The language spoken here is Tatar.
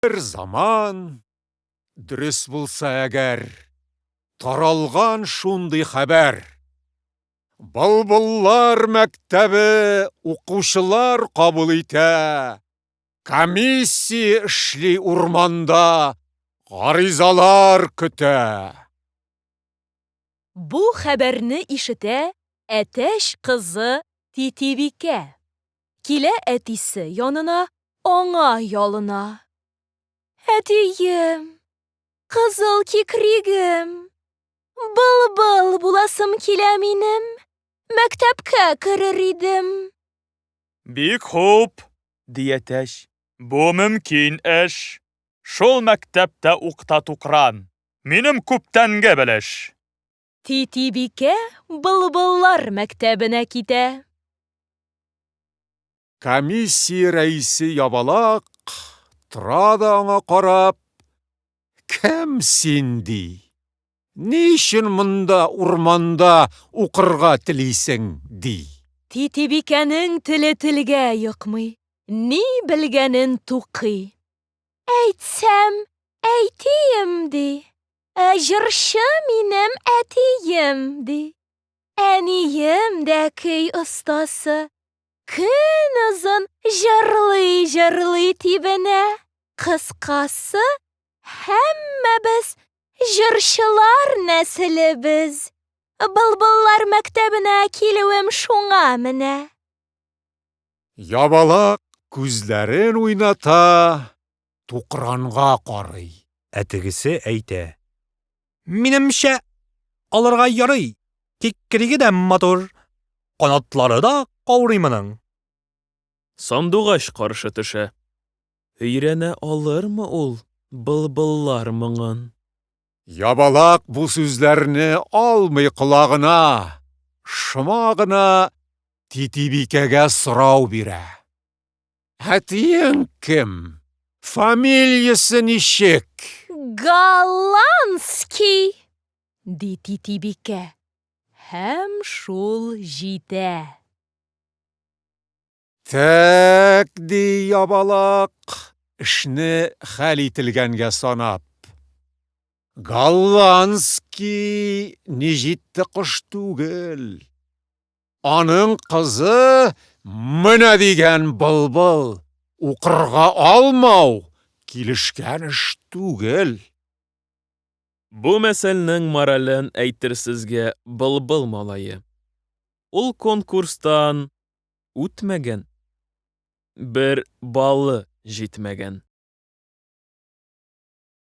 Бер заман, дөрес булса әгәр, таралган шундый хәбәр. Былбыллар мәктәбе укучылар кабул итә. Комиссия эшли урманда, гаризалар көтә. Бу хәбәрне ишетә әтәч кызы Титибикә. Килә әтисе янына, аңа ялына. Әтием, кызыл кикригем, былбыл буласым килә минем, мәктәпкә керер идем. Бик хуп, ди әтәч, бу мөмкин эш. Шул мәктәптә укта тукран, минем күптәнге белеш. Титибикә былбыллар мәктәбенә китә. Комиссия рәисе ябалак тора да аңа карап, Кем син, ди. Ни өчен монда, урманда, укырга телисең? ди. Титибикәнең теле телгә йокмый, ни белгәнен тукый. Әйтсәм, әйтим, ди. Ә җырчы минем әтием, ди. Әнием дә көй остасы. Көн озын җырлый-җырлый тибенә. Кыскасы, һәммәбез җырчылар нәселебез. Былбыллар мәктәбенә килүем шуңа менә. Ябалак күзләрен уйната, тукранга карый. Ә тегесе әйтә. Минемчә, алырга ярый, тик криге дә матур, канатлары да каурый моның. Сандугач каршы төшә. Өйрәнә алырмы ул былбыллар моңын? Ябалак бу сүзләрне алмый колагына, шома гына Титибикәгә сорау бирә. Әтиең кем? Фамилиясе ничек? Голландский! ди Титибикә. Һәм шул җитә. Тәк, ди Ябалак, эшне хәл ителгәнгә санап. Голландский ни җитте кош түгел. Аның кызы менә дигән былбыл. Укырга алмау килешкән эш түгел. Бу мәсәлнең морален әйтерсезгә былбыл малае. Ул конкурстан үтмәгән, бер баллы җитмәгән.